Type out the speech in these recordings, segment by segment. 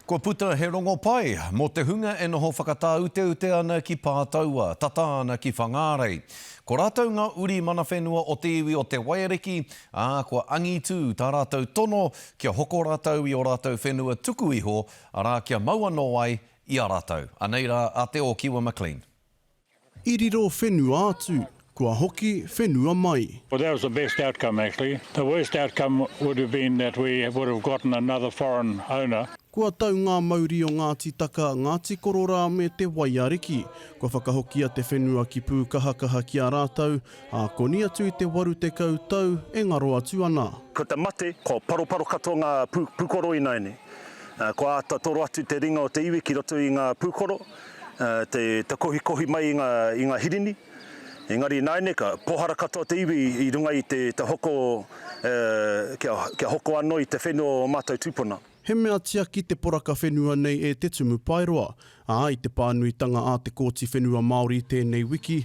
Kua puta he rongo pai mō te hunga e noho whakatāuteute ana ki Pātaua, tata ana ki Whangārei. Ko rātou ngā uri mana whenua o te iwi o Te Waiariki, ā, kua angitū tā rātou tono kia hoko rātou i ō rātou whenua tuku iho, arā, kia mau anō ai i a rātou. Anei rā a Te Ōkiwa McLean. I riro whenua atu, kua hoki whenua mai. Well that was the best outcome actually, the worst outcome would have been that we would have gotten another foreign owner. Kua tau ngā mauri o Ngāti Taka, Ngāti Kororā me Te Waiariki. Kua whakahokia te whenua ki Pūkahakaha ki a rātou, ā, koni atu i te waru tekau tau e ngaro atu ana. Ko te mate, ko paroparo katoa ngā pūkoro ināianei. Kua āta toro atu te ringa o te iwi ki roto i ngā pūkoro. te kohikohi mai i ngā hirini, engari nāineka, pōhara katoa te iwi i runga i te hoko kia hoko anō i te whenua o ō mātou tūpuna. He mea tiaki te poraka whenua nei e Te Tumu Paeroa, ā, i te pānuitanga a te Kōti Whenua Māori tēnei wiki,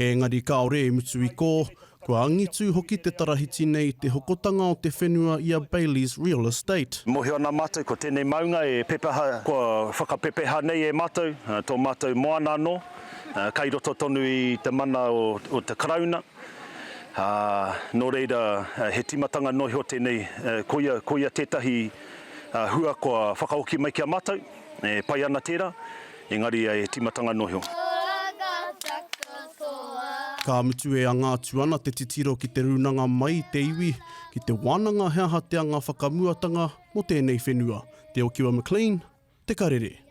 Engari kāore i mutu i kō, kua angitū hoki te tarahiti nei i te hokotanga o te whenua i a Bailey's Real Estate. Mōhio ana mātou ko tēnei maunga e pepeha, kua whakapepeha nei e mātou, tō mātou moana anō, kei roto tonu i te mana o te Karauna, ā, nō reira he tīmatanga noa iho tēnei, koia, koia tētahi hua kua whakahoki mai ki a mātou. E pai ana tērā, engari e tīmatanga noa iho. Ka mutu e anga atu ana te titiro ki te rūnanga mai i te iwi, ki te wānanga he aha te anga whakamuatanga mō tēnei whenua. Te Okiwa McLean, Te Karere.